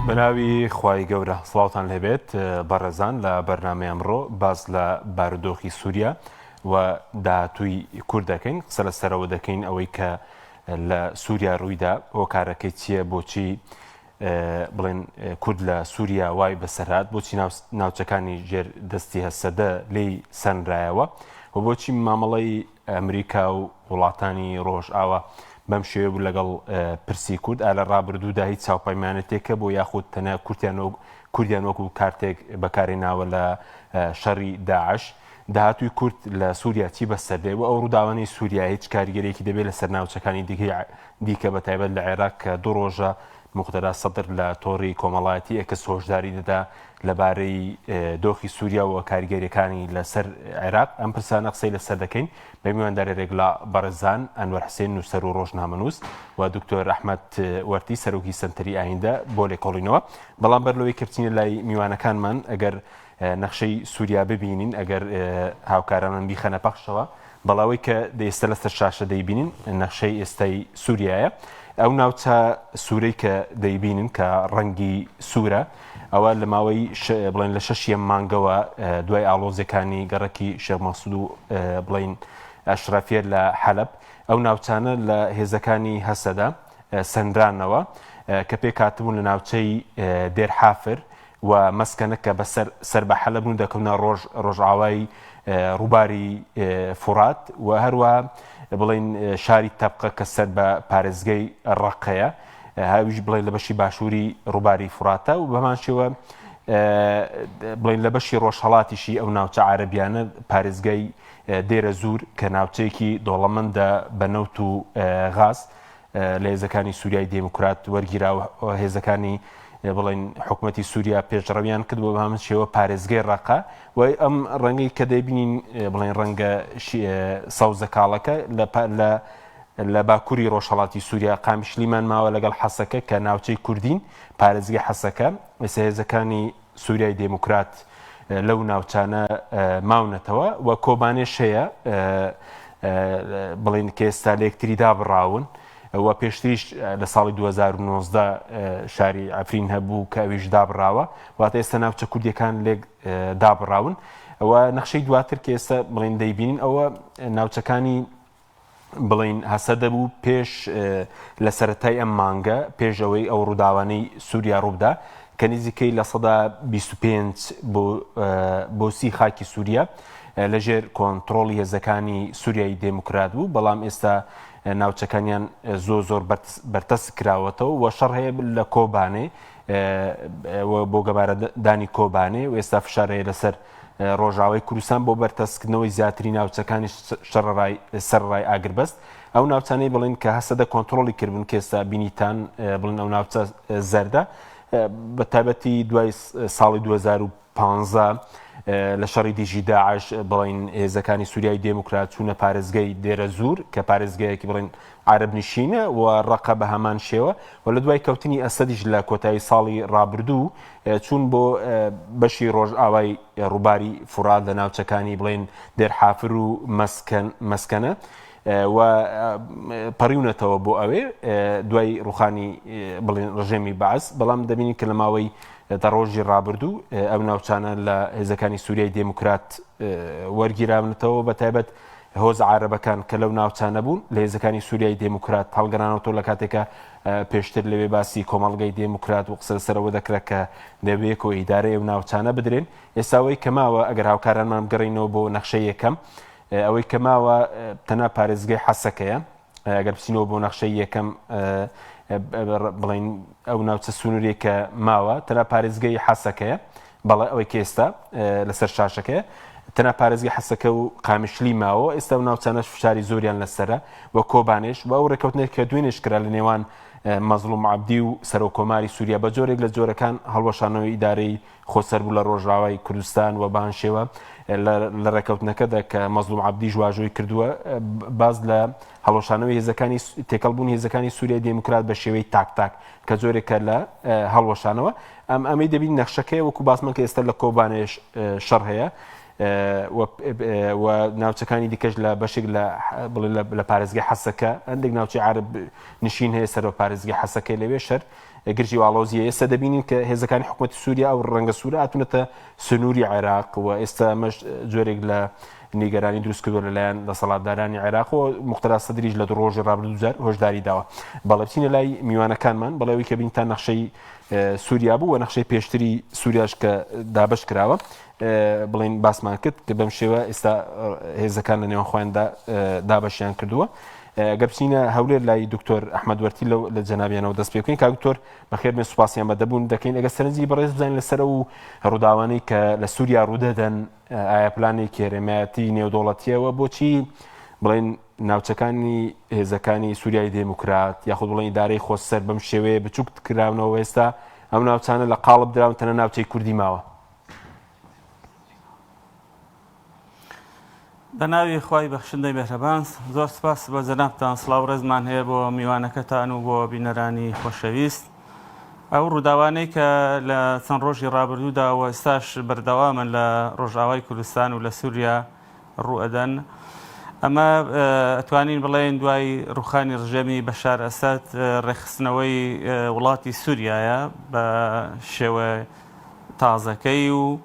بەناوی خوای گەورە سڵاوان لەبێت بەڕێزان لە بەرنامی ئەمڕۆ باز لە بارودۆخی سووریا و داهاتووی کورد دەکەین قسە لە سەرەوە دەکەین ئەوەی کە لە سووریا ڕوویدا هۆکارەکەی چییە بۆچی بڵێن کورد لە سووریا وای بەسەرات بۆچی ناوچەکانی ژێر دەستی هەسەدە لێی سەنرایەوە و بۆچی مامەڵی ئەمریکا و وڵاتانی ڕۆژ ئاوا بەم شێوە بوو لەگەڵ پرسی کورد ئالە ڕابردوودا هیچ چاوپەیمانەتێکە بۆ یاخود تەنە کورتیان و کوردیان وەکو کارتێک بەکاری ناوە لە شەڕی داعش داهاتوی کورد لە سووریا چی بەسەردێ و ئەو ڕووداوانەی سووریا هیچ کاریگەرێکی دەبێت لە سەرناوچەکانی دیکەی دیکە بە تایبەت لە عێراق کە دوو ڕۆژە موقتەدا سەدر لە تۆڕی کۆمەڵایەتی ئێکس هۆشداری دەدا لەبارەی دۆخی سووریا و کاریگەریەکانی لەسەر عێراق ئەم پرسانە قسەی لەسەر دەکەین بە میواندارە رێگلا بەڕێزان ئەنوەر حسێن نووسەر و ڕۆژنامەنووس و دکتۆر رححمت وەرتی سەرۆکی سنتری ئایندە بۆ لێکۆڵینەوە بەڵام بەر لەوەی کەچینە لای میوانەکانمان ئەگەر نەخشەی سووریا ببینین ئەگەر هاوکارانم بیخەنە پەخشەوە بەڵێ ئەوەی کە ئێستا لەسەر شاشە دەیبینین نەخشەی ئێستای سووریایە ئەو ناوچە سوورەی کە دەیبینن کە ڕەنگی سوورە ئەوە لە ماوەی بڵێن لە شەشیە مانگەوە دوای ئاڵۆزەکانی گەڕکی شێمەسود و بڵین ئەشرافە لە حەلب ئەو ناوچانە لە هێزەکانی هەسەدا سنرانەوە کە پێکاتبوون لە ناوچەی دێرحافر و مەسکەنە کە بە سەر سەر بە حەلەب و دەکەونە ڕۆژ ڕۆژئاوای ڕووباری فوڕات و هەروە بڵین شاری تەبقە کە سەر بە پارێزگەی ڕقەیە هاویش بڵێن لە بەشی باشووری ڕووباری فڕاتە و بەمان شێوە بڵین لە بەشی ڕۆژهڵاتیشی ئەو ناوچە عربیانە پارێزگای دێرە زور کە ناوچەیەکی دۆڵەمەندە بە نەوت و غاز لە هێزەکانی سووریای دێموکرات وەرگیرا و هێزەکانی بڵین حکوومەتتی سووریا پێشڕەویان کرد بۆ هەمن شێوە پارێزگەی ڕقا و ئەم ڕەنگی کە دەبینین بڵین ڕەنگە سەوزە کاڵەکە لە لە لە باکووری ڕۆژهڵاتی سووریا قامیشلیمان ماوە لەگەڵ حەسەکە کە ناوچەی کوردین پارێزگەی حەسەکە ئێسهێزەکانی سوریای دێموکرات لەو ناوچانە ماونەتەوە و کۆبانێش هەیە بڵین کە ئێستا لە یەکتری دابڕاون و پێشتریش لە ساڵی 2019 شاری ئەفرین هەبوو کە ئەویش دابڕاوە واتە ئێستا ناوچە کوردیەکان لێک دابڕاون ئەوە نەخشەی دواتر کە ئێستا بڵین دەیبینین ئەوە ناوچەکانی بڵێین هەسەدە بوو پێش لە سەرەتای ئەم مانگە پێش ئەوەی ئەو ڕووداوانەی سووریا ڕووبدا کە نزیکەی لە سەدا 25 بۆ سی خاکی سووریا لەژێر کۆنتترۆڵی هێزەکانی سووریای دێموکرات بوو بەڵام ئێستا ناوچەکانیان زۆ زۆر بەرتەس کراوەتەوە و شەڕ هەیە لە کۆبانێ بۆ گەبارەدانی کۆبانێ و ئێستا فشارەیە لەسەر ڕۆژاوای کوردستان بۆ بەرتەسککردنەوەی زیاتری ناوچەکانی سەرەڕای ئاگربەست ئەو ناوچانەی بڵین کە هەسەدە کۆنتترۆلی کردبوون کێستا بینیتان بڵین ئەو ناوچە زەردە بە تابەتی دوای ساڵی 2015 لە شەڕی دیژی داعش بڵین هێزەکانی سووریای دێموکرات چوونە پارێزگەی دێرە زور کە پارێزگەیەکی بڵین عارەب نشینە و ڕەقە بە هەمان شێوە و لە دوای کەوتنی ئەسەدیش لە کۆتایی ساڵی ڕابردوو چوون بۆ بەشی ڕۆژئاوای ڕووباری فورات لە ناوچەکانی بڵێن دێرحافر و مەسکەنە و پەڕیونەتەوە بۆ ئەوێ دوای ڕوخانی بڵێن ڕژێمی باز بەڵام دەبینی کە لە ماوەی دە ڕۆژی ڕابردوو ئەو ناوچانە لە هێزەکانی سووریای دێموکرات وەرگیراونەتەوە بە تایبەت هۆزە عارەبەکان کە لەو ناوچانە بوون لە هێزەکانی سوریای دێموکرات هەڵگەرانەوەتەوە لە کاتێکا پێشتر لەوێ باسی کۆمەڵگەی دێموکرات و قسە لەسەر ئەوە دەکرا کە دەبێکۆ ئیدارەی ئەو ناوچانە بدرێن ئێستا ئەوەی کە ماوە ئەگەر هاوکارانمان بگەڕێینەوە بۆ نەخشەی یەکەم ئەوەی کە ماوە تەنها پارێزگەی حەسەکەیە ئەگەر بچینەوە بۆ نەخشەی یەکەم بڵین ئەو ناوچە سنووری کە ماوە تەنە پارێزگەی حەسەکەیە بەڵێ ئەوەی کێستا لەسەر شاشەکەی تەنە پارێزگە حەسەکە و قامیشلی ماوە ئێستا و ناوچانەش فشاری زۆریان لەسرە و کۆبانێش و ئەو ڕێککەوتنێک کە دوێنێش کرا لە نێوان مەزلوم عبدی و سەرۆکۆماری سووریا بە جۆرێک لە جۆرەکان هەڵوەشانەوەی ئیدارەی خۆسەربوو لە ڕۆژئاوای کوردستان و بەان شێوە لە ڕێکەوتنەکەدا کە مەزلوم عەبدیش واژۆی کردووە باس لە هەڵۆشانەوەی هێزەکانی تێکەڵبوون هێزەکانی سووریای دێموکرات بە شێوەی تاک تاک کە زۆرێکە لە هەڵوەشانەوە ئەم ئەمەی دەبین نەخشەکەی وەکو باسمان کە ئێستا لە کۆبانێش شەڕ هەیە و ناوچەکانی دیکەش لە بەشێک لە بڵێ لە پارێزگە حەسەکە هەندێک ناوچی عرب نشین هەیە سەر بە پارێزگە حەسەکەی لەوێ شەر گرژی و ئاڵۆزیی ئێستا دەبینین کە هێزەکانی حکومەتی سووریا ئەو رەنگە سوورە هاتوونەتە سنووری عێراق و ئێستا ئەمەش جۆرێک لە نیگەرانی دروست کردووە لەلایەن دەسەڵاتدارانی عێراق و موقتەدا سەدریش لە دوو رۆژی رابردوو دووجار هۆشداری داوە. بەڵێ بچینە لای میوانەکانمان، بەڵێ ئەوەی کە بینتان نەخشەی سووریا بوو و نەخشەی پێشتری سووریاش کە دابەش کراوە بڵێن باسمان کرد کە بەم شێوە ئێستا هێزەکان لە نێوان خۆیاندا دابەشیان کردووە. گەر بچینە هەولێر لای دکتۆر ئەحمد وەرتی لەو لە جەنابیانەوە دەست پێ بکەین کاکتۆر بەخێر بێن سوپاسیان بە دەبوون دەکەین ئەگە سەرنجی بەڕێز بزانین لەسەر و ڕووداوانەی کە لە سووریا ڕوودەدەن ئایا پلانی کێرەمەتی نێودوڵەتیەوە بۆچی بڵێن ناوچەکانی هێزەکانی سووریای دێموکرات یاخود بڵێن دارەی خۆسەر بەم شێوەیە بچووک کراونەوە ئێستا ئەم ناوچانە لە قاڵب دراون تەنە ناوچەی کوردی ماوە بە ناوی خوای بەخشندەی مێهرەبان زۆر سپاس بۆ جەنابتان سڵاو ڕێزمان هەیە بۆ میوانەکەتان و بۆ بینەرانی خۆشەویست ئەو ڕووداوانەی کە لە چەند ڕۆژی ڕابردوودا و ئێستاش بەردەوامن لە ڕۆژاوای کوردستان و لە سووریا ڕوئەدەن ئەمە ئەتوانین بڵێن دوای ڕوخانی ڕژێمی بەشار ئەسد ڕێخستنەوەی وڵاتی سووریایە بە شێوە تازەکەی و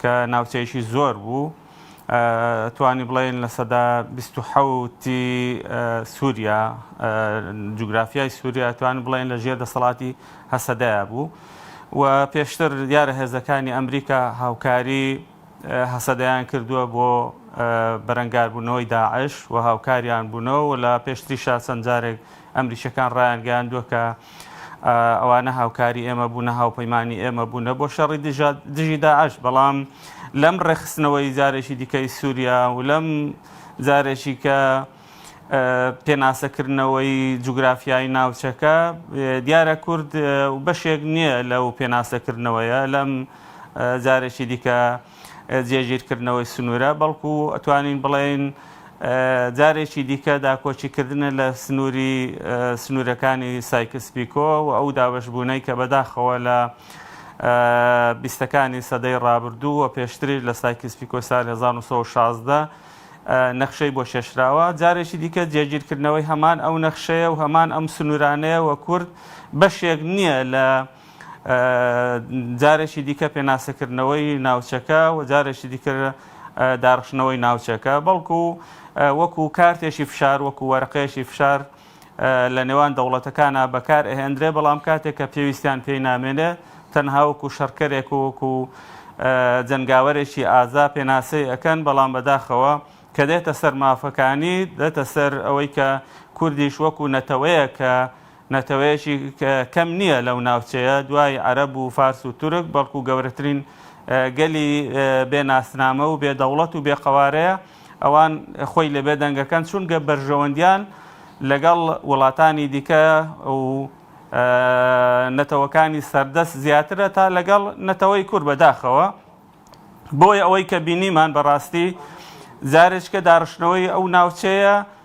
کە ناوچەیەکی زۆر بوو، توانی بڵێین لە سەدا بیست و حەوت ی سوریا، جوگرافیای سوریا توانی بڵێین لە ژێر دەسەڵاتی هەسەدەیا بوو و پێشتر دیارە هێزەکانی ئەمریکا هاوکاری هەسەدەیان کردووە بۆ بەرەنگاربوونەوەی داعش و هاوکاریان بوونەوە و لە پێشتریشا چەند جارێک ئەمریکییەکان ڕایانگەیاندووە کە ئەوان نە هاوکاری ئێمە بوون، نە هاوپەیمانی ئێمە بوونە بۆ شەڕی دژی داعش، بەڵام لەم ڕێکخستنەوەی جارێکی دیکەی سووریا و لەم جارێکی کە پێناسەکردنەوەی جوگرافیایی ناوچەکە دیارە کورد بەشێک نییە لەو پێناسەکردنەوەیە لەم جارێکی دیکە جێگیرکردنەوەی سنوورە، بەڵکو ئەتوانین بڵێین جارێکی دیکە داکۆکیکردنە لە سنووری سنوورەکانی سایکس پیکۆ و ئەو دابەشبوونەی کە بەداخەوە لە بیستەکانی سەدەی ڕابردوو و پێشتریش لە سایکس پیکۆی ساڵی 1916 نەخشەی بۆ کێشراوە، جارێکی دیکە جێگیرکردنەوەی هەمان ئەو نەخشەیە و هەمان ئەم سنوورانەیە و کورد بەشێک نییە لە جارێکی دیکە پێناسەکردنەوەی ناوچەکە و جارێکی دیکە داڕشتنەوەی ناوچەکە، بەڵکو وەکو کارتێکی فشار، وەکو وەرەقەیەکی فشار لە نێوان دەوڵەتەکانا بەکارئەهێندرێ، بەڵام کاتێک کە پێویستیان پێی نامێنێ، تەنها وەکو شەڕکەرێک و وەکو جەنگاوەرێکی ئازا پێناسەی ئەکەن، بەڵام بەداخەوە کە دێتە سەر مافەکانی، دێتە سەر ئەوەی کە کوردیش وەکو نەتەوەیەک کە نەتەوەیەکی کەم نییە لەو ناوچەیە دوای عەرەب و فارس و تورک، بەڵکو گەورەترین گەلی بێ ناسنامە و بێ دەوڵەت و بێ قەوارەیە، ئەوان خۆی لە بێدەنگەکەن چونکە بەرژەوەندیان لەگەڵ وڵاتانی دیکە و نەتەوەکانی سەردەست زیاترە تا لەگەڵ نەتەوەی کورد، بەداخەوە بۆیە ئەوەی کە بینیمان بەڕاستی جارێکیکە داڕشتنەوەی ئەو ناوچەیە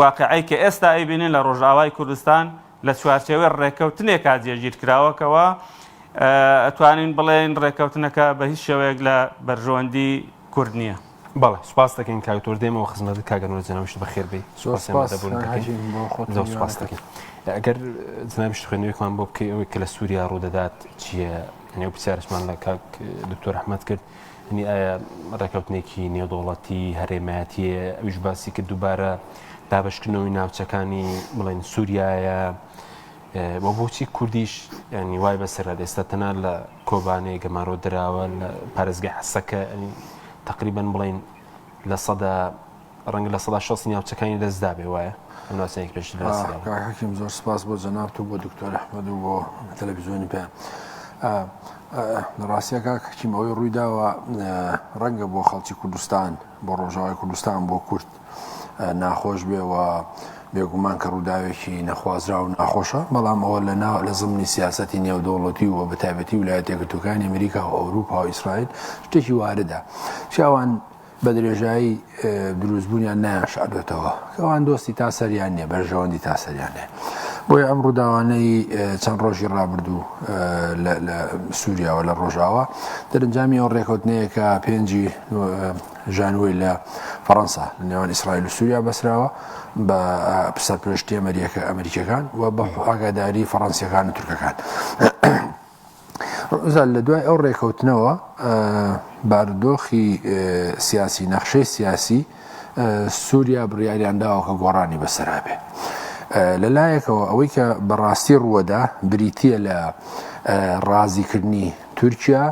واقیعی کە ئێستا ئەیبینین لە ڕۆژئاوای کوردستان لە چوارچێوەی ڕێککەوتنێکا جێگیرکراوەکەوە، ئەتوانین بڵێین ڕێککەوتنەکە بە هیچ شێوەیەک لە بەرژەوەندی کورد نییە. بەڵێ سوپاست دەکەین کاک دکتۆر دێمەوە خزمەتت کاک ئەنوەر جەنابیشت بەخێر بێی زۆر سپاس زۆر سپاس دەکەین ئەگەر جنابیشت خوێندنەوەیەکمان بۆ بکەی ئەوەی کە لە سووریا ڕوودەدات چییە یعنی ئەو پرسیارشمان لە کاک دکتۆر ئەحمەد کرد یەنی ئایا ڕێکەوتنێکی نێودەوڵەتی هەرێمایەتییە، ئەویش باسی کرد دووبارە دابەشکردنەوەی ناوچەکانی بڵێن سووریایە و بۆچی کوردیش ینی وای بەسەرات ئێستا تەنها لە کۆبانەیە گەمارۆ دراوە لە پارێزگای حەسەکە تقریبان بڵین لە سەدا ڕەنگە لە سەدا شەست نیاوچەکانی لەدەستدابێ وایە ئەم ناوچەیەک پێش باسی داوە. کاک حەکیم زۆر سپاس بۆ جەنابت و بۆ دکتۆر ئەحمەد و بۆ تەلەڤیزیۆنی پێ ڕاستیە کاک حەکیم ئەوەی ڕووی داوە ڕەنگە بۆ خەڵکی کوردستان بۆ ڕۆژاوای کوردستان بۆ کورد ناخۆش بێ و بێگومان کە ڕووداوێکی نەخوازرا و ناخۆشە بەڵام ئەوە لە ناو لە زمنی سیاستی نێودەوڵەتی و بە تایبەتی ولایەتێکرتوەکانی ئەمریکا و ئەوروپا و ئیسرائیل شتێکی واردە شاوان بە درێژایی دروستبوونیان نایانشاردوێتەوە کەوان دۆستی تا سەریان نیە بەرژەوەندی تا سەریان هەیە بۆی ئەم ڕووداوانەی چەند ڕۆژی ڕابردوو لە سووریاوە لە ڕۆژاوە دەرنجامی ئەو ڕێکوتنەیەکە پێنجی ژانوی لە فەڕەنسا لە نێوان ئیسرائیل و سووریا بەسراوە بە سەرپێشتی ئەمریکە ئەمریکەکان و بە ئاگاداری فەڕەنسیەکان و تورکەکان ڕوزا لە دوای ئەو ڕێکەوتنەوە بارودۆخی سیاسی نەخشەی سیاسی سووریا بڕیاریان داوە کە گۆڕانی بەسەرا بێ لە لایەکەوە ئەوەی کە بەڕاستی ڕووەدا بریتە لە ڕازیکردنی تورکیا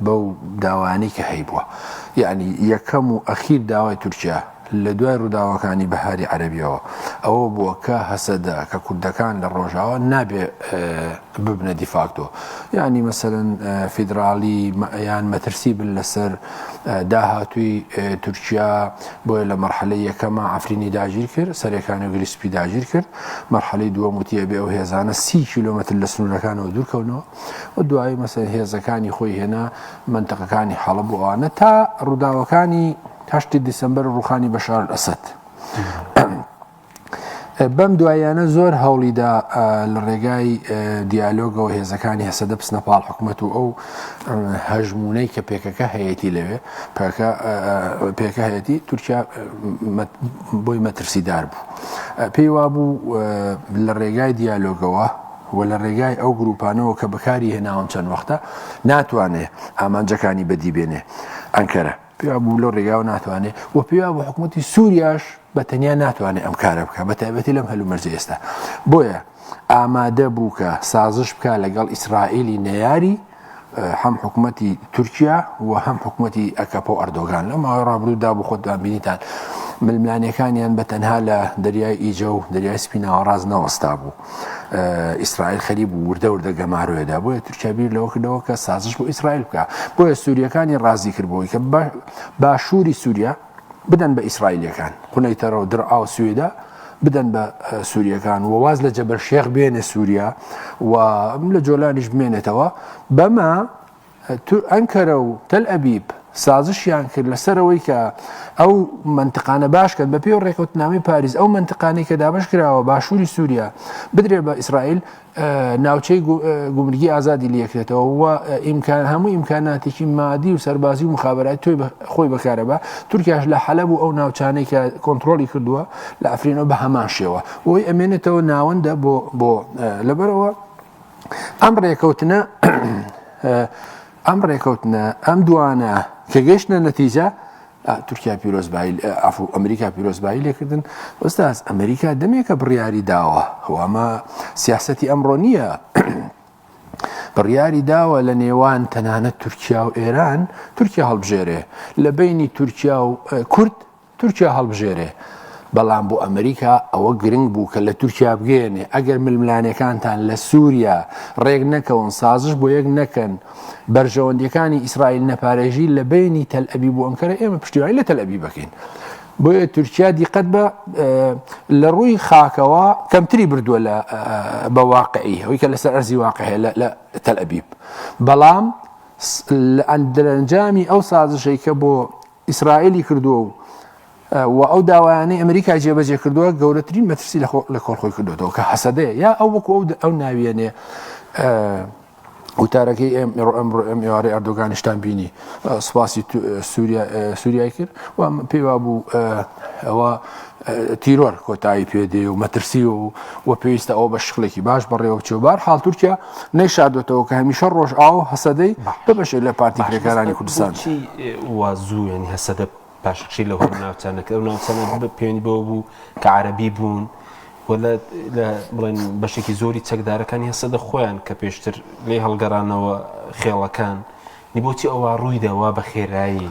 بەو داوانەی کە هەیبووە یعنی یەکەم و ئەخیر داوای تورکیا لە دوای ڕووداوەکانی بەهاری عەرەبییەوە ئەوە بووە کە هەسەدە کە کوردەکان لە ڕۆژاوا نابێ ببنە دیفاکتۆ یانی مەسەرەن فیدراالی یان مەترسی بن لەسەر داهاتووی تورکیا بۆیە لە مەرحەلە یەکەمە ئەفرینی داگیر کرد سەرەکانی و گریسپی داگیر کرد مەرحەلی دووە وتیە بێ ئەو هێزانە سی کیلومتر لە سنوورەکانەوە دوورکەونەوە و دوایی مەسەر هێزەکانی خۆی هێنا منتەقەکانی حەڵە بۆوانە تا ڕووداوەکانی هەشتی دیسەمبەر و ڕوخانی بەشار ئەلئەسەد بەم دواییانە زۆر هەوڵیدا لە ڕێگای دیالۆگەوە هێزەکانی هەسەدە بسنە پاڵ حکوومەت و ئەو هەژمونەی کە پێکەکە هەیەی لەوێ پێکە هەیەی تورکیا بۆی مەترسیدار بوو پێی وابوو لە ڕێگای دیالۆگەوە و لە ڕێگای ئەو گروپانەوە کە بەکاری هێناون چەند وەختە ناتوانێ ئامانجەکانی بەدیبێنێ ئەنکەرە پێیوا بوو لەو ڕێگاوە ناتوانێ و پێیوا بوو حکوومەتی سووریاش بە تەنیا ناتوانێت ئەم کارە بکە بە تایبەتی لەم هەلومەرجە ئێستا بۆیە ئامادە بوو کە سازش بکە لەگەڵ ئیسرائیلی نەیاری هەم حکوومەتی تورکیا و هەم حکوومەتی ئەکەپە و ئەردۆگان لە ماوەی ڕابروودا بۆ خۆتان بینیتان ململانەکانیان بە تەنها لە دەریای ئیجە و دەریای سپیناوە ڕاز نەوەستا بوو ئیسرائیل خەری بوو وردە وردە گەمارۆێدا بۆیە تورکیا بیر لەوەکردەوە کە سازش بۆ ئیسرائیل بکە بۆیە سووریەکانی ڕازی کردبووی کە باشووری سووریا بدەن بە ئیسرائیلەکان قونەی تەرە و درعا و سوێدا بدەن بە سووریەکان و واز لە جەبەر شێخ بێنێ سووریا و لە جۆلانیش بمێنێتەوە بەمە ئەنکەرە و تەل ئەبیب سازشیان کرد لەسەر ئەوەی کە ئەو منتقانە باشکەن بە پێی و ڕێکوتنامی پاریس ئەو منتقانەی کە دابش کراوە باشووری سووریا بدرێ بە ئیسرائیل ناوچەی گومرگی ئازادی لەکرێتەوە و ئیمکان هەموو ئیمکاناتێکی مادی و سەربازی و مخابراتی توی خۆی بەکارەبە تورکیاش لە حەلب و ئەو ناوچانەی کە کۆنتترۆلی کردووە لە ئەفرینەوە بە هەمان شێوە بۆی ئەمێنێتەوە ناوەندە بۆ بۆ لەبەرەوە ئەم ڕێکەوتنە ئەم ڕێکەوتنە ئەم دوانە کە گەشتە نەتیجە تورکیا پیرۆزبایی ئەفو ئەمریکا پیرۆزبایی لێکردن ئۆستاز ئەمریکا دەمێکە بڕیاری داوە ئەوامە سیاستی ئەمڕۆ نییە بڕیاری داوە لە نێوان تەنانەت تورکیا و ئێران تورکیا هەڵبژێرێ لە بینی تورکیا و کورد تورکیا هەڵبژێرێ، بەڵام بۆ ئەمریکا ئەوە گرنگ بوو کە لە تورکیا بگەیەنێ ئەگەر ململانێکانتان لە سوریا ڕێک نەکەون سازش بۆ یەک نەکەن بەرژەوەندیەکانی ئیسرائیل نەپارێژی لە بینی تەل ئەبیب و ئەنکەرە ئێمە پشتیوانی لە تەل ئەبیب بکەین بۆیە تورکیا دیقەت بە لە ڕووی خاکەوە کەمتری بردووە لە بە واقعی ئەوی کە لەسەر ئەرزی واقع هەیە لە تەل ئەبیب بەڵام لە ئەندرەنجامی ئەو سازشەی کە بۆ ئیسرائیلی کردووە و و ئەو داوایانەی ئەمریکای جێبەجێ کردووە گەورەترین مەترسی لە کۆڵ خۆی کردوەوە کە حەسەدەیە یا ئەو وەکو ئەو ئەو ناویێنێ وتارەکەی ئێم ئێڕۆ ئەمڕۆ ئەم ئێوارەی ئەردۆگانیشتان بینی سوپاسی سووریای کرد و پێیوا بوو ئەوە تیرۆر کۆتایی پێ دێ و مەترسی و و پێویستە ئەو بە شکلێکی باش بەڕێوە بچێ بار حال تورکیا نەیشاردوێتەوە کە هەمیشە ڕۆژ ئاو هەسەدەی ببەشێ لە پارتی کرێکارانی کوردستان وازوو ینی هەسەدە باشکشی لە هۆر ناوچانە کە ئەو ناوچانە بە پێێن بۆ بوو کە عربی بوون. بڵێن بەشێکی زۆری چەکدارەکانی هەسە دە خۆیان کە پێشتر لێ هەڵگەرانەوە خێڵەکان نی بۆچی ئەوە ڕوویدەوە بە خێرایی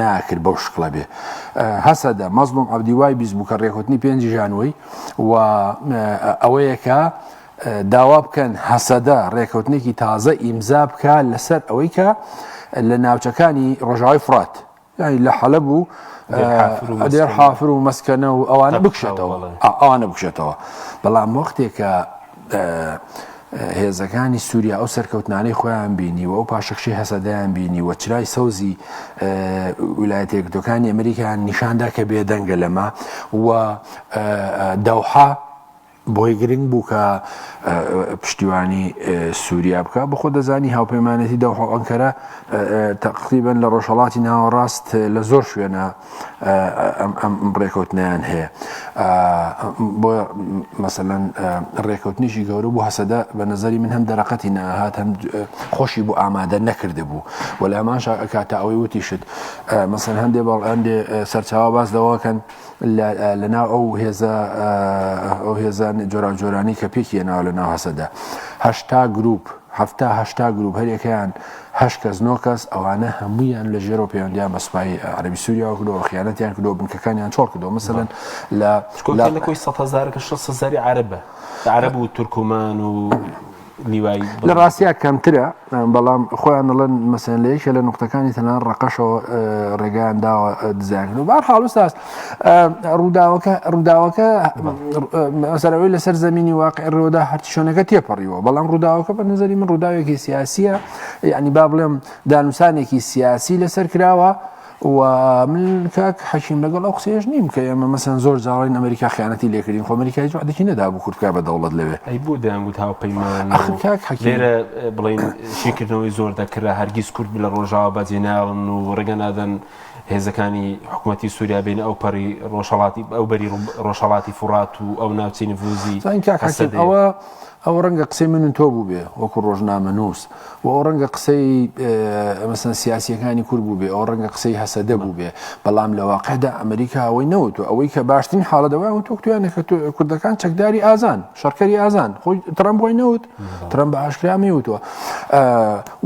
ناکرد بەو شکڵە بێ هەسەدە مەزلوم عبدی وای بیست بوو کە ڕێکوتنی پێنجی ژانوەی و ئەوەیەکە داوا بکەن هەسەدە ڕێکەوتنێکی تازە ئیمزا بکە لەسەر ئەوەی کە لە ناوچەکانی ڕۆژاوی فرات یعنی لە حەلە بوو دێر حافر و مەسکەنە و ئەوانە بکشێتەوە ئەوانە بکشێتەوە بەڵام وەختێکە هێزەکانی سووریا ئەو سەرکەوتنانەی خۆیان بینی و ئەو پاشەکشی هەسەدەیان بینی و چرای سەوزی ویلایەت یەکگرتوەکانی ئەمریکایان نیشاندا کە بێدەنگە لەمە و دەوحە بۆی گرنگ بوو کە پشتیوانی سووریا بکە بخۆ دەزانی هاوپەیمانەتی دەوحە ئەنکەرە تەقریبن لە ڕۆژهڵاتی ناوەڕاست لە زۆر شوێنە ئەم ڕێکەوتنیان هەیە بۆ مەسەەن ڕێکەوتنیشی گەورە بۆ هەسەدە بە نظری من هەم دەرەقەتی ناهات هەم خۆشی بۆ ئامادە نەکرده بوو و لە هەمان کاتە ئەوەی وتیشت مەسەن هەندێ بەڵ هەندێ سەرچاوە باس دەواکەن لەناو ئەو هێزە ئەو هێزان جۆران جۆرانی کە پێکیە ناو لە ناو هەسەدە هەشتا گروپ حەفتا هەشتا گروپ هەریەکەیان هەشت کەس نۆ کەس ئەوانە هەموویان لە ژێرەوە پەیوەندیان بە سوپای عەرەبی سوریاوە کردەوە خیانەتیان کردەوە بنکەکانیان چۆڵ کردەوە مثلا لە لە کۆی سەد هەزارەکە شەست سەزاری عەرەبە عەرەب و تورکمان و لیوای لە ڕاستیا کەمترە بەڵام خۆیان دەڵێن مەسەن لە یەکێ لە نقطەکانی تەنان ڕقەشەوە ڕێگەیان داوە دزیان و بار حاڵوساست ڕووداوەکە ڕووداوەکە ئەسەرەوەی لەسەر زمینی واقع ڕۆدا هەرچۆنەکە تێپەڕیوە بەڵام ڕووداوەکە بە نظری من ڕووداوێکی سیاسیە یعنی با بڵێم دانوسانێکی سیاسی لەسەر کراوە و من کاک حەکیم لەگەڵ ئەو قسێش نیم کە ئێمە مەسەن زۆر جاڵین ئەمریکا خیانەتی لێکردین خۆمەریکای جوعدەکی نەدا بوو کورتکە بە دەوڵەت لەوێ ئەی بۆ دەیانگووت هاوپەیمان کاک حەکێرە بڵین شیکردنەوەی زۆر دەکرا هەرگیز کورد لە ڕۆژاوە بەجێناون و ڕێگە نادەن هێزەکانی حکومەتی سوریا بینە ئەو پەڕی ڕۆژهەڵاتی ئەو بەری ڕۆژهەڵاتی فوڕات و ئەو ناوچەی نفوزی زانین کاک هەسەدەیە. حەکیم ئەوە ئەوە ڕەنگە قسەی من و تۆ بووبێ وەکو ڕۆژنامەنووس و ئەوە ڕەنگە قسەی مەسەن سیاسییەکانی کورد بووبێ ئەوە ڕەنگە قسەی هەسەدە بووبێ بەڵام لە واقعدا ئەمریکا ئەوەی نەوتوە ئەوەی کە باشترین حاڵەت ئەوەیان وتوە وتویانە کە کوردەکان چەکداری ئازان شەڕکەری ئازان خۆی ترەمپ وای نەوت ترەمپ بە ئاشکرا ئەمەی وتوە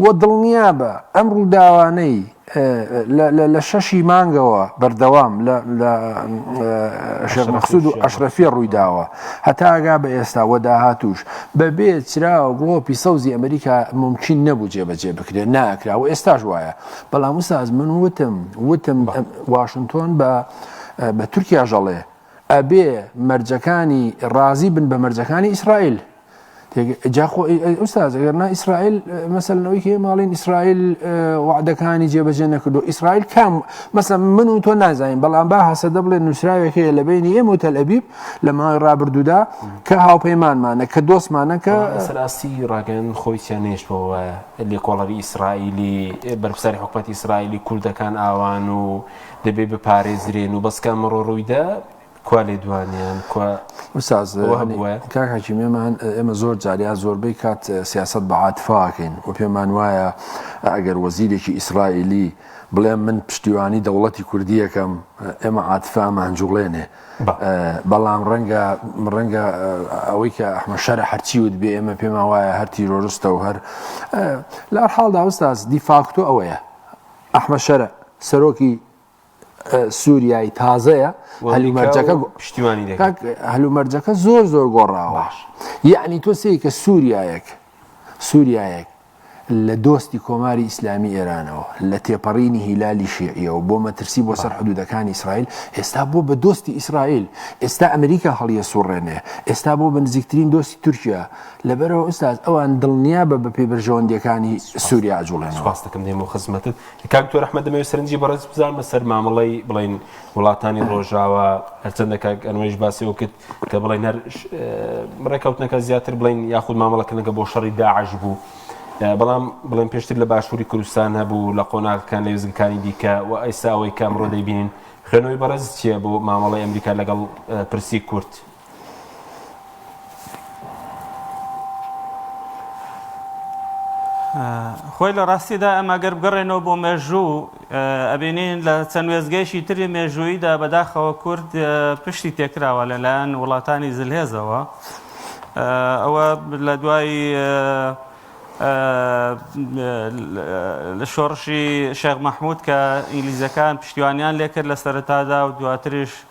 و دڵنیا بە ئەم ڕووداوانەی لە شەش ی مانگەوە بەردەوام لە شێخ مەقسود و ئەشرەفیە ڕوویداوە هەتاگا بە ئێستا وە داهاتووش بە بێ چرا و گڵۆپی سەوزی ئەمریکا مومکین نەبوو جێبەجێ بکرێت ناکرا و ئێستاش وایە بەڵام وساز من وتم وتم واشنتۆن بە بە تورکیا ژەڵێ ئەبێ مەرجەکانی ڕازی بن بە مەرجەکانی ئیسرائیل جاخۆ ئوستاز ئەگەر نا ئیسرائیل مەسەلەوەی هەیە ماڵین ئیسرائیل وعدەکانی جێبەجێ نەکردو ئیسرائیل کام مەسە من و تۆ نازانین بەڵام با هەسە دەبڵێ نووسراوێک هەیە لە بینی ئێمە و تەل ئەبیب لە ماوەی ڕابردوودا کە هاوپەیمانمانە کە دۆستمانە کە سەراستی ڕاگەن خۆی سیانێشتەوە لێکۆڵەری ئیسرائیلی بەرپساری حکوومەت ئیسرائیلی کوردەکان ئاوان و دەبێ بپارێزرێن و بەسکە مەڕۆ ڕوویدا کوا لێدوانیان کوا استاذ کاک حکیم ئێمە ئێمە زۆر جاریا زۆربەی کات سیاست بە عاتفاکەین و پێمان وایە ئەگەر وەزیرێکی ئیسرائیلی بڵێ من پشتیوانی دەوڵەتی کوردیەکەم ئێمە عاتفامان جوڵێنێ بەڵام ڕەنگە ڕەنگە ئەوەی کە ئەحمە شەر هەرچی وت بێ ئێمە پێما وایە هەر تیرۆرستە و هەر لە حاڵدا ئەوستاز دیفاکتۆ ئەوەیە ئەحمە شەرە سەرۆکی سووریای تازەیە هەلومەرجەکە پشتیوانی دەکات هەلومەرجەکە زۆر زۆر گۆڕاواش یعنی تۆ سێ کە سووریایەک سووریایەک لە دۆستی کۆماری ئیسلامی ئێرانەوە لە تێپەڕینی هیلالی شێعیەوە بۆ مەترسی بۆ سەر حدودەکانی ئیسرائیل ئێستا بۆ بە دۆستی ئیسرائیل ئێستا ئەمریکا هەڵیە سوڕێنێ ئێستا بۆ بنزیکترین دۆستی تورکیا لەبەرەوە ئوستاز ئەوان دڵنیا بە بە پێبرژەوەندەکانی سووریا جوڵێن سپاستەکەم دێمە خزمەتت کاک دکتۆر احمد دەمەوێت سەرنجی بەڕێز بزان بەسەر مامەڵەی بڵین وڵاتانی ڕۆژاوە هەرچەندە کاک ئەنوەیش باسی ئەو کرد کە بڵین هەر ڕێکەوتنەکە زیاتر بڵین یاخود مامەڵەکردنەکە بۆ شەڕی داعش بوو بەڵام بڵێن پێشتر لە باشووری کوردستان هەبوو لە قۆناغەکان لە وێزگەکانی دیکە و ئەیساوەی کامڕۆ دەیبین خوێنەوەی بەڕێز چییە بۆ مامەڵی ئەمریکا لەگەڵ پرسی کورد خۆی لە ڕاستیدا ئەمە گەر بگەڕێنەوە بۆ مێژوو ئەبینین لە چەند وێزگەیشی تری مێژووییدا بەداخەوە کورد پشتی تێکراوە لەلایەن وڵاتانی زلهێزەوە ئەوە لە دوای لە شۆڕشی شێخ مەحموود کە ئینگلیزەکان پشتیوانیان لێکرد لە سەرتادا و دواتریش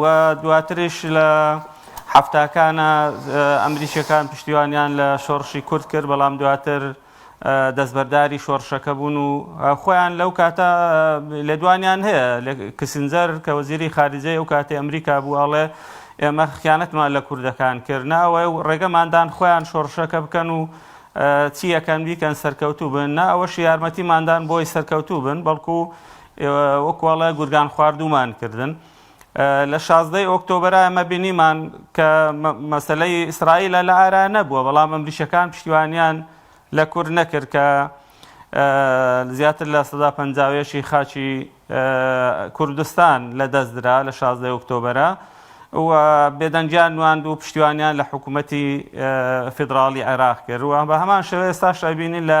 و دواتریش لە حەفتاکانە ئەمریکیەکان پشتیوانیان لە شۆڕشی کورد کرد بەڵام دواتر دەستبەرداری شۆڕشەکە بوون و خۆیان لەو کاتە لێدوانیان هەیە لە کسنجەر کە وەزیری خارجەی ئەو کاتی ئەمریکا بوو ئەڵێ ئێمە خیانەتمان لە کوردەکان کرد ناوە و ڕێگەماندان خۆیان شۆڕشەکە بکەن و چیەکەن بیکەن سەرکەوتوو بن نا ئەوەش یارمەتیماندان بۆی سەرکەوتوو بن بەڵکو ئێوە وەکو ئەڵێ گورگان خواردومان کردن. لە شازدەی ئۆکتۆبرا ئەمە بینیمان کە مەسلەی ئیسرائیلە لە ئارا نەبووە بەڵام ئەمریشەکان پشتیوانیان لە کورد نەکرد کە زیاتر لە سەدا پەنجاوێشی خاچی کوردستان لە دەستدرا لە شازدەی ئۆکتۆبرە و بێدەنگیان نواند و پشتیوانیان لە حکوومەتی فیدراڵی عێراق کرد و بە هەمان شێوەیە ساش ئەبینین لە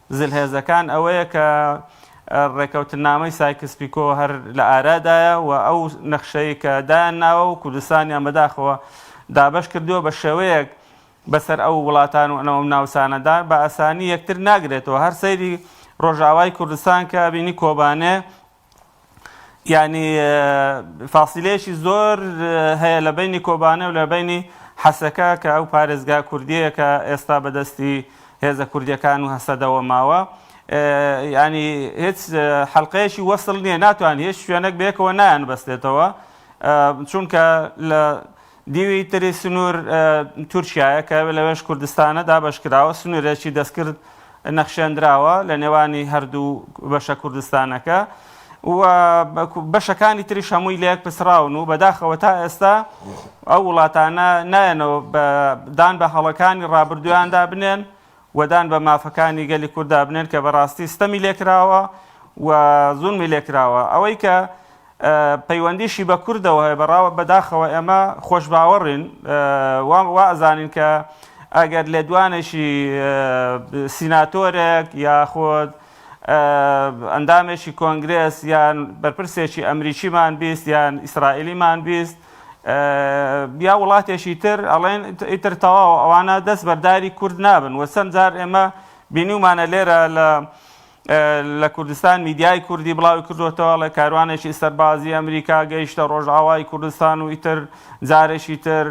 زلهێزەکان ئەوەیە کە ڕێکەوتنامەی سایکس پیکۆ هەر لە ئارادایە و ئەو نەخشەی کە دایان ناوە و کوردستانیان بەداخەوە دابەش کردووە بە شێوەیەک بەسەر ئەو وڵاتان و ئەو ناوچانەدا بە ئاسانی یەکتر ناگرێتەوە هەر سەیری ڕۆژاوای کوردستان کە بینی کۆبانێ یانی فاسیلەیەکی زۆر هەیە لە بەینی کۆبانێ و لە بەینی حەسەکە کە ئەو پارێزگا کوردیەیە کە ئێستا بەدەستی هێزە کوردیەکان و هەسەدەوە ماوە ینی هیچ حلقەیەکی وەسل نییە ناتوان هیچ شوێنێک بێکەوە نایان بەستێتەوە چونکە لە دیوی تری سنوور تورکیایە کە لەوێش کوردستانە دابەشکراوە، سنوورێکی دەستکرد نەخشێندراوە لە نێوانی هەردوو بەشە کوردستانەکە و بەشەکانی تریش هەمووی لەیەک پسراون و بەداخەوە تا ئێستا ئەو وڵاتانە نایەنەوە دان بە هەڵەکانی ڕابردویاندا بنێن و دان بە مافەکانی گەلی کورددا بنێن کە بەڕاستی ستەمی لێکراوە و زوڵمی لێکراوە. ئەوەی کە پەیوەندیشی بە کوردەوە هەیە، بە ڕاوە بە داخەوە ئێمە خۆشباوەڕین و وا ئەزانین کە ئەگەر لێدوانێکی سیناتۆرێک یاخود ئەندامێکی کۆنگرێس یان بەرپرسێکی ئەمریکیمان بیست یان ئیسرائیلیمان بیست یا وڵاتێکی تر ئەڵێن ئیتر تەواو ئەوانە دەست بەرداری کورد نابن و چەند جار ئێمە بینیومانە لێرە لە لە کوردستان میدیای کوردی بڵاوی کردوێتەوە لە کاروانێکی سەربازی ئەمریکا گەیشتە ڕۆژئاوای کوردستان و ئیتر جارێکی تر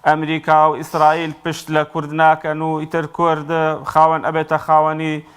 ئەمریکا و ئیسرائیل پشت لە کورد ناکەن و ئیتر کورد خاوەن ئەبێتە خاوەنی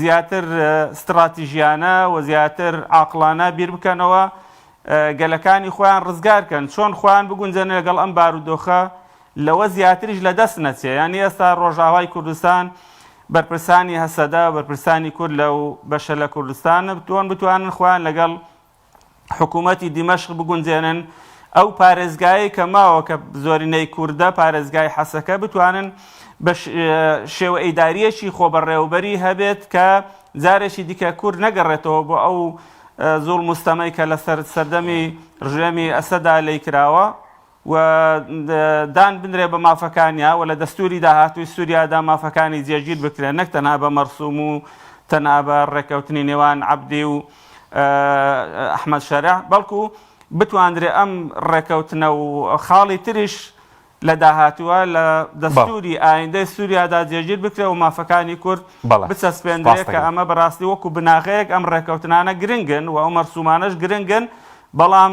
زیاتر ستڕاتیژیانە و زیاتر عاقڵانە بیر بکەنەوە، گەلەکانی خۆیان ڕزگار کەن، چۆن خۆیان بگونجێنن لەگەڵ ئەم بارودۆخە، لەوە زیاتریش لە دەست نەچێ، یانی ئێستا ڕۆژاوای کوردستان بەرپرسانی هەسەدە، بەرپرسانی کورد لەو بەشە لە کوردستان، تۆن بتوانن خۆیان لەگەڵ حکوومەتی دیمەشق بگونجێنن، ئەو پارێزگایەی کە ماوە کە زۆرینەی کوردە، پارێزگای حەسەکە، بتوانن بە شێوە ئیدارییەکی خۆبەڕێوەبەری هەبێت کە جارێکی دیکە کورد نەگەڕێتەوە بۆ ئەو زوڵم و ستەمەی کە لەسەر سەردەمی ڕژێمی ئەسەدا لێی کراوە. و دان بنرێ بە مافەکانیا و لە دەستووری داهاتووی سووریادا مافەکانی جێگیر بکرێن نەک تەنها بە مەرسووم و تەنها بە ڕێککەوتنی نێوان عەبدی و ئەحمەد شەرع بەڵکو بتواندرێ ئەم ڕێککەوتنە و خاڵی تریش لە داهاتووە لە دەستووری ئایندەی سووریادا جێگیر بکرێ و مافەکانی کورد بچەسپێندرێت کە ئەمە بەڕاستی وەکو بناغەیەک ئەم ڕێککەوتنانە گرنگن و ئەو مەرسوومانەش گرنگن بەڵام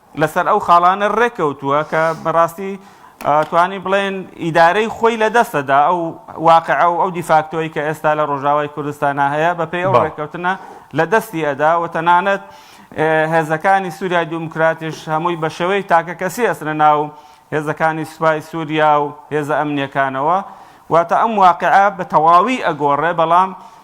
لەسەر ئەو خاڵانە ڕێککەوتووە کە بەڕاستی توانی بڵێن ئیدارەی خۆی لە دەستەدا ئەو واقع ئەو ئەو دیفاکتۆی کە ئێستا لە ڕۆژاوای کوردستانە هەیە بە پێی ئەو ڕێککەوتنە لە دەستی ئەدا و تەنانەت هێزەکانی سووریای دیموکراتیش هەمووی بە شێوەی تاکە کەسی ئەسرە ناو هێزەکانی سوپای سووریا و هێزە ئەمنیەکانەوە واتە ئەم واقعە بە تەواوی ئەگۆڕێ بەڵام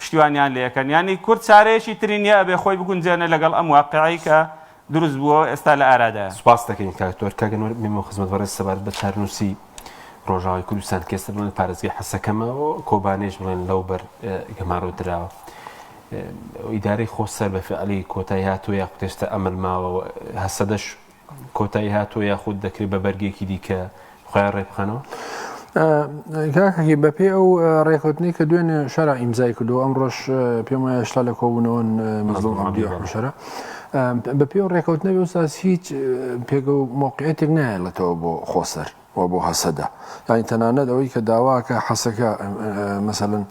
پشتیوانیان لێ کەن یانی کورد چارەیەکی تری نیە ئەبێ خۆی بگونجێنێ لەگەڵ ئەم واقیعەی کە دروست بووەوە ئێستا لە ئارادایە. سوپاست دەکەین کاک تۆر. کاک ئەنوەر مەمنون و خزمەت بەڕێز سەبارەت بە چارەنووسی ڕۆژاوای کوردستان کە ئێستا بڵێن پارێزگای حەسەکەمە و کۆبانێش بڵێن لەو بەر گەمارۆ دراوە ئیدارەی خۆ سەر بە فعلی کۆتای هاتووە یا قوتێستە ئەمەل ماوە هەسەدەش کۆتایی هاتووە یاخود دەکرێت بە بەرگێکی دیکە خۆیان ڕێبخەنەوە؟ کاکەکی بەپێ ئەو ڕێکوتنی کە دوێنێ شەرا ئیمزای کردو ئەم ڕۆژ پێم وایە شتا لە کۆبوونەوەن مەزڵشەرە بەپێ و ڕێکوتنەوە ساس هیچ پێگە و مۆقعێتێک نایەڵێتەوە بۆ خۆسەر و بۆ هەسەدە یانی تەنانەت ئەوەی کە داواکە حەسەکە مەسەلەن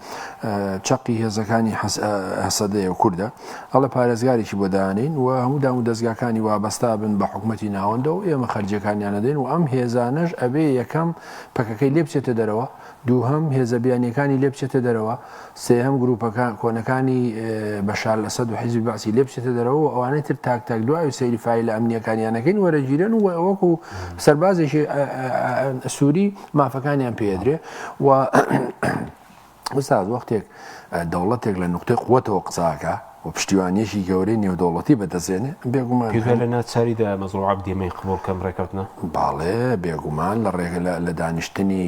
چەقی هێزەکانی هەسەدەیە و کوردە ئەڵە پارێزگارێکی بۆ دانین و هەموو دام و دەستگاکانی وابەستا بن بە حکوومەتتی ناوەندە و ئێمە خەرجەکانیانەدەین و ئەم هێزانەش ئەبێ یەکەم پەکەکەی لێ بچێتە دەرەوە دووهەم هێزە بیانیەکانی لێ بچێتە دەرەوە، سێهەم گروپەکە کۆنەکانی بەشار ئەسەد و حیزبی بەعسی لێ بچێتە دەرەوە و ئەوانەی تر تاک تاک دو ئاوی سەیری فایلە ئەمنیەکانیان ئەکەین وەرەگیرێن و وەکو سەربازێکی سوری مافەکانیان پێ ئەدرێ و ئوستاز وەختێک دەوڵەتێک لە نوقتەی قوەتەوە قسە ئەکا و پشتیوانییەکی گەورەی نێودەوڵەتی بەدەستێنێ، بێگومان هەن. پێویە لە ناچاری دایە مەزڵوم عەبدی مەی قبوڵ کەم ڕێکەوتنە؟ بەڵێ، بێگومان لە ڕێگە لە لە دانیشتنی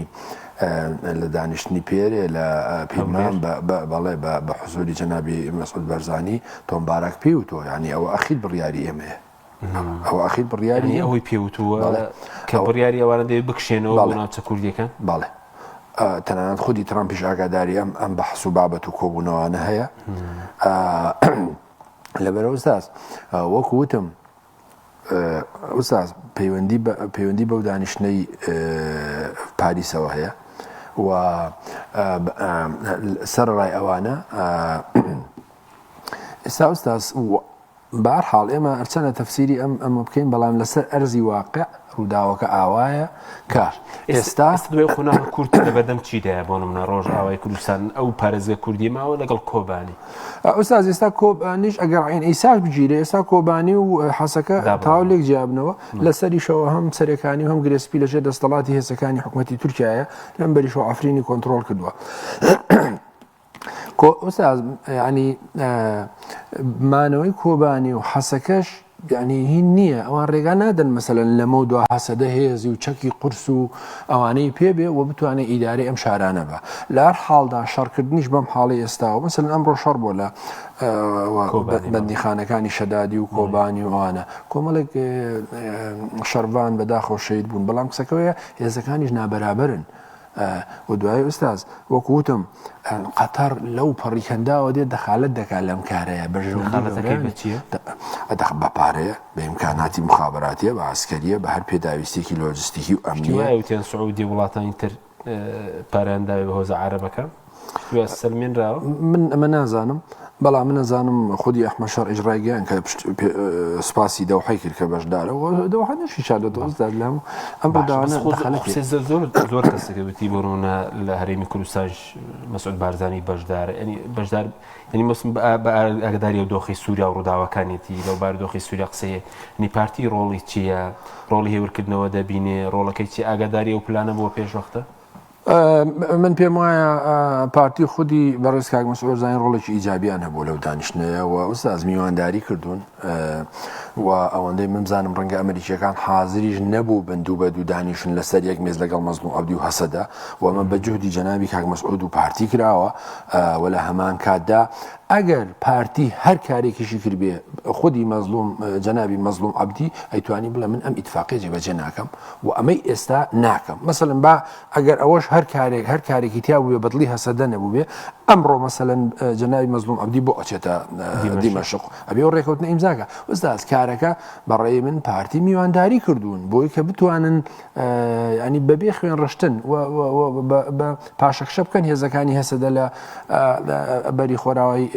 لە دانیشتنی پێرێ لە پیرمان بە بە بەڵێ بە بە حزووری جەنابی مەسعود بەرزانی، تۆم باراک پێی وتووە یانی ئەوە ئەخیر بڕیاری ئێمەیە. ئەو ئەخیر بڕیاری یعنی ئەوەی پێوتووە بەڵێ. کە ئەو- بڕیاری ئەوانە دەوێت بکشێنەوە بەڵێ. بۆ ناوچە کوردیەکان بەڵێ ئا، تەنانەت خودی ترامپیش ئاگاداری ئەم ئەم بەحس و بابەت و کۆبوونەوانە هەیە ئا، لەبەر ئوستاز ئا، وەکو وتم ئا، ئوستاز پەیوەندی بە پەیوەندی بەو دانیشتنەی ئا، پاریسەوە هەیە و ئا، ب- ئا، سەرەڕای ئەوانە ئا، ئێستا ئوستاز و بەهەر حاڵ ئێمە هەرچەنە تەفسیری ئەم ئەمە بکەین بەڵام لەسەر ئەرزی واقع ڕووداوەکە ئاوایە کە ئێستا ئێستا دوای قۆناغە کورتی لە بەردەم چیدایە بۆ نمونە ڕۆژئاوای کوردستان ئەو پارێزگە کوردی ماوە لەگەڵ کۆبانی ئوستاز ئێستا کۆبانیش ئەگەر عین ئیساش بگیرێ ئێستا کۆبانی و حەسەکە دابڕاوە. تاو لێک جیابنەوە لەسەریشەوە هەم سەرەکانی و هەم گرێسپی لەژێر دەستەڵاتی هێزەکانی حکوومەتی تورکایە لەم بەریشەوە عفرینی کۆنتترۆل کردووە خۆ ئوستاز یعنی مانەوەی کۆبانی و حەسەکەش یعنی هی نییە ئەوان ڕێگا نادەن مەسەن لەمە دو حەسەدە هێزی و چەکی قرس و ئەوانەی پێبێ و بتوانێت ئیدارەی ئەم شارانە بە لار حاڵدا شەڕکردنیش بەم حاڵی ئێستاوە مەسن ئەمڕۆ شەڕ بۆ لە بەندیخانەکانی شەدادی و کۆبانی وانە کۆمەڵێک شەرڤان بەداخۆ شەید بوون بەڵام قسەکەوەیە هێزەکانیش نابەرابرن. و دوایی ئوستاز وەکو وتم قەتەڕ لەو پەڕی کەنداوە دێت دەخالت دەکات لەم کارەیە بەژدەخ بە پارەیە بە ئیمکاناتی مخاباتیە بە ئاسکەریە بە هەر پێداویستێکی لۆجستیکی و ئەمنیوتێن سعودی وڵاتانی تر پارانداوی بە هۆزە عربەکە سەلمێنراوە؟ من ئەمە نازانم، بەڵام من ئەزانم خودی ئەحمەد شەرعیش ڕایگەیاند کە سوپاسی دەوحەی کرد کە بەشدارە و دەوحە نەشی چا لە دۆز داد لەم ئەم ڕۆداوانە خۆزانە کێ زۆر زۆر زۆر کەسە کە وتی بۆرۆنە لە هەرێمی کوردستانش مەسعود بارزانی بەشدارە یعنی بەشدار یعنی مەسم بە ئاگداری و دۆخی سووریا و ڕووداوەکانێتی لەو بارودۆخی سووریا قسەیە نی پارتی ڕۆڵی چییە ڕۆڵی هێورکردنەوە دەبینێ ڕۆڵەکەی چی ئاگاداری و پلانە بۆ پێشوەختە من پێم وایە پارتی خودی بەڕێز کاک مەسۆزانانی ڕۆڵێکی ئیجابیان هەبوو لەو دانیشتنەیە و ئوستاز میوانداری کردوون و ئەوەندەی ممزانم ڕەنگە ئەمریکیەکان حاضریش نەبوو بن دوو بە دوو دانیشن لەسەر یەک مێز لەگەڵ مەزن و عبدی و هەسەدا و من بە جهدی جەناوی کاک مەسعود و پارتی کراوە و لە هەمان کاتدا ئەگەر پارتی هەر کارێکیشی کردبێ خودی مەزلوم جەناوی مەزلوم عبدی ئەیتوانی بڵێ من ئەم ئیتفاقی جێبەجێ ناکەم وە ئەمەی ئێستا ناکەم مەسەلەن با ئەگەر ئەوەش هەر کارێک هەر کارێکی تیا بووێ بەدڵی هەسەدە نەبووێ ئەمڕۆ مەسەلەن جەنابی مەزلوم عەبدی بۆ ئەچێتە دیمەشق ئەبێ و ڕێکەوتنە ئیمزاکە ئوستاز کارەکە بەڕێی من پارتی میوانداری کردوون بۆی کە بتوانن ینی بەبێ خوێن ڕشتن بە پاشەکشە بکەن هێزەکانی هەسەدە لە بەری خۆراوی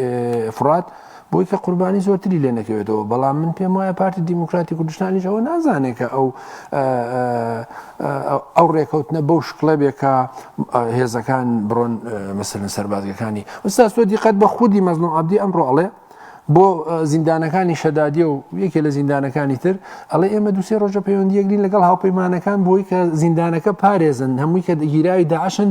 فرات بۆی کە قوربانی زۆرتری لێ نەکەوێتەوە، بەڵام من پێم وایە پارتی دیموکراتی کوردستانیش ئەوە نازانێت کە ئەو ئەو ڕێکەوتنە بەو شکڵە بێ کە هێزەکان بڕۆن مەسەرن سەربازگەکانی ئوستاز تۆ دیقەت بە خودی مەزلوم عبدی ئەمڕۆ ئەڵێ بۆ زیندانەکانی شەدادیە و یەکێ لە زیندانەکانی تر ئەڵێ ئێمە دوسێ ڕۆژە پەیوەندیەکرین لەگەڵ هاوپەیمانەکان بۆی کە زیندانەکە پارێزن هەمووی کە دەگیراوی داعشن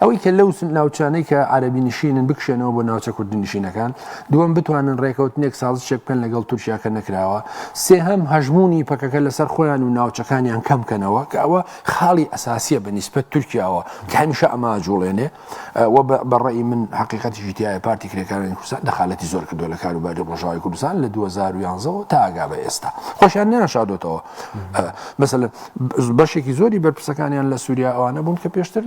ئەوەی کە لەو ناوچانەی کە عەرەبی نشینن بکشێنەوە بۆ ناوچە کوردنشینەکان دووەم بتوانن ڕێکەوتنێک سازشێک بکەن لەگەڵ تورکیا کە نەکراوە سێهەم هەژمونی پەکەکە لەسەر خۆیان و ناوچەکانیان کەم کەنەوە کە ئەوە خاڵی ئەساسیە بە نیسبەت تورکیاوە کە هەمیشە ئەما جوڵێنێ و بەڕێی من حقیقەتی ژیتیایە پارتی کرێکارانی کوردستان دەخالەتی زۆر کردو لە کاروباری ڕۆژاوی کوردستان لە 2011 تاگا بە ئێستا خۆشیان نیان شادۆتەوە مەسەل بەشێکی زۆری بەرپرسەکانیان لە سووریا ئەوانە بوون کە پێشتر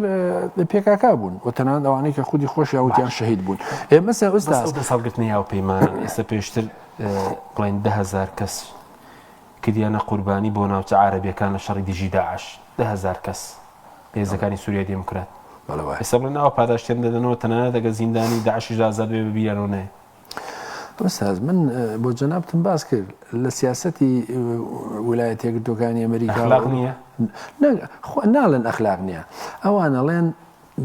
لە پێکاکا بوون و تەنان ئەوانەی کە خودی خۆشیان وتیان شەهید بوون ئێمە سەوستا دەسەڵگرتنی یاو پەیمان ئێستا پێشتر بڵێن دههزار کەس کردیانە قوربانی بۆ ناوچە عربیەکان لە شەڕی دژی داعش دههزار کەس هێزەکانی سووریای دێموکرات ئێستا بڵێن ئەو پاداشتێن دەدەنەوە تەنانە دەگە زیندانی داعشیش ئازاد بێ ببییانەوە نێ ئوستاز من بۆ جەنابتم باس کرد لە سیاستی ولایەت یەکردوەکانی ئەمریکا ناڵێن ئەخلاق نییە ئەوانەڵێن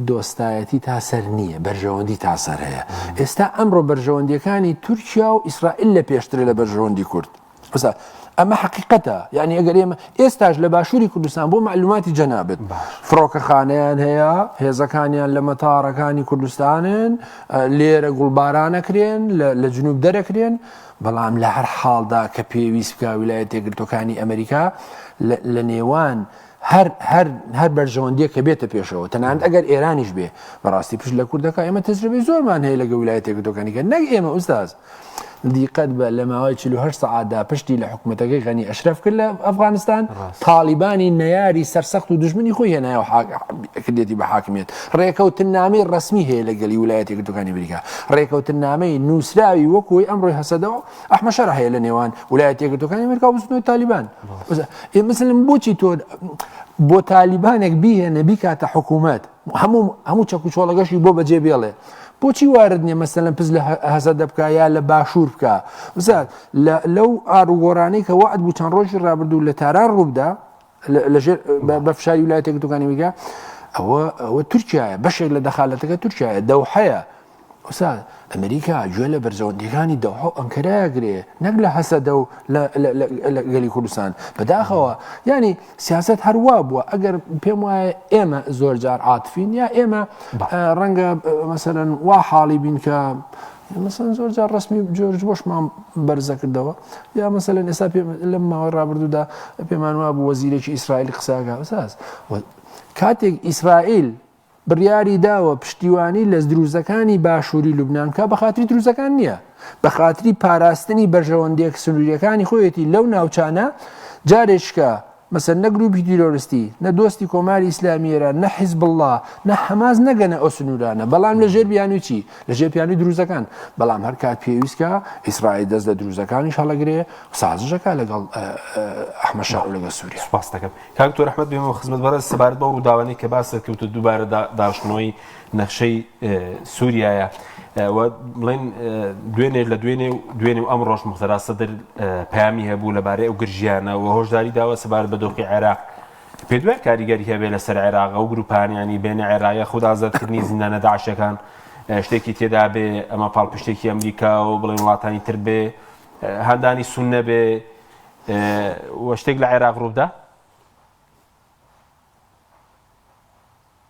دۆستایەتی تا سەر نییە بەرژەوەندی تا سەر هەیە ئێستا ئەمڕۆ بەرژەوەندیەکانی تورکیا و ئیسرائیل لە پێشتر لە بەرژەوەندی کورد قسە ئەمە حقیقەتە یعنی ئەگەر ئێمە ئێستاش لە باشووری کوردستان بۆ معلوماتی جەنابێت فڕۆکەخانیان هەیە هێزەکانیان لە مەتارەکانی کوردستانن لێرە گوڵبارانەکرێن لە جنوب دەرەکرێن بەڵام لە هەر حاڵدا کە پێویست بکە ویلایەت تێگرتوەکانی ئەمریکا لە نێوان هەر هەر هەر بەرژەوەندیە کە بێتە پێشەوە تەنانەت ئەگەر ئێرانیش بێ بەڕاستی پشت لە کوردەکە ئێمە تەجربەی زۆرمان هەیە لەگە ویلایەتێک دۆکانیکە نەک ئێمە ئوستاز دیقەت بە لە ماوەی 48 سەعاتدا پشتی لە حکوومەتەکەی غەنی ئەشرف کرد لە ئەفغانستان تاالبانی نەیاری سەرسەخت و دژمنی خۆی هێنایەوە کردێتی بە حاکمێت ڕێکەوتن نامی ڕسمی هەیە لە گەلی ویلایەتێک دوکانی بریکە ڕێکەوتن نامەی نووسراوی وەکوی ئەمڕۆی هەسەدەوە ئەحمەشەر هەیە لە نێوان ولایە تێگرتوەکانی ئەمریکا بزنەوەی تالیبان مثلم بۆچی تۆ بۆ تالیبانێک بیهێنە بیکاتە حکوومەت هەموو هەموو چەک و چۆڵەگەشی بۆ بەجێ بێڵێ بۆچی وارد نیە مەسەن لەم پز لە هەزە دەبکە یا لە باشوور بکە وزات لەو ئاروگۆرانەی کە وعد بوو چەند ڕۆژی ڕابردوو لە تاران ڕووبدا لەژێر بە فشاری ولایەتە یەکگرتووەکانی ئەمریکا ئەوە ئەوە تورکایە بەشێک لە دەخالەتەکە تورکایە دەوحەیە وسا ئەمریکا گوێ لە بەرزەوەندیەکانی دەوحە و ئەنکەراگرێ نەک لە هەسەدە و گەلی کوردستان بەداخەوە ینی سیاست هەروا بووە ئەگەر پێم وایە ئێمە زۆر جار عاتفین یا ئێمە ڕەنگە مەسەرەن وا حاڵی بین کە مەسەلەن زۆر جار ڕەسمی جۆرج بۆشمان بەرزەکردەوە یا مەسەلەن ئێستا لەم ماوەی ڕابردوودا پێمان وابوو وەزیرێکی ئیسرائیل قساگا بەساز کاتێک ئیسرائیل بڕیاری داوە پشتیوانی لە دروزەکانی باشووری لوبنان کا بە خااتری دروزەکان نییە بە خااتری پاراستنی بەرژەوەندێک سنووریەکانی خۆیەتی لەو ناوچانە جارێکە مەسەن نە گروپی تیرۆرستی نە دۆستی کۆماری ئیسلامی ئێران نە حیزبوڵڵا نە حەماس نەگەنە ئەو سنوورانە بەڵام لە ژێر بیانووی چی لە ژێر پیانوی دروزەکان بەڵام هەر کات پێویستکە ئیسرائیل دەست لە دروزەکانیش هەڵەگرێ سازشەکە لەگەڵ ئەحمە شا و لەگەڵ سووریا سپاس دەکەم کاک دکتۆر ئەحمەد بێمەوە خزمەت بەڕێز سەبارەت بەو ڕووداوانەی کە باست کرد و دووبارە داشتنەوەی نەخشەی سووریایە و بڵێن دوێنێ لە دوێنێ و دوێنێ و ئەم ڕۆژ مختەرا سەدر پامی هەبوو لەبارەی ئەو گرژیانە و هۆشداری داوە سەبارەت بە دۆخی عێراق پێ دوای کاریگەری هەبێ لەسەر عێراق و گروپانیانی بێنە عێراقە خود ئازادکردنی زیندانە داعشەکان شتێکی تێدا بێ ئەمە پاڵپشتێکی ئەمریکا و بڵێن وڵاتانی تر بێ هەندانی سون نەبێ وە شتێک لە عێراق ڕوودا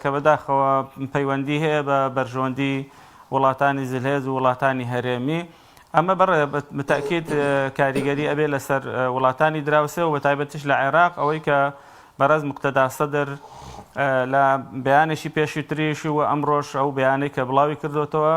کە بەداخەوە پەیوەندی هەیە بە بەرژەوەندی وڵاتانی زلهێز و وڵاتانی هەرێمی، ئەمە بەڕێ بە تەئکید کاریگەری ئەبێ لەسەر وڵاتانی دراوسێ و بە تایبەتیش لە عێراق، ئەوەی کە بەڕێز موقتەدا سەدر لە بەیانێکی پێشووتریش و ئەمڕۆش ئەو بەیانەی کە بڵاوی کردۆتەوە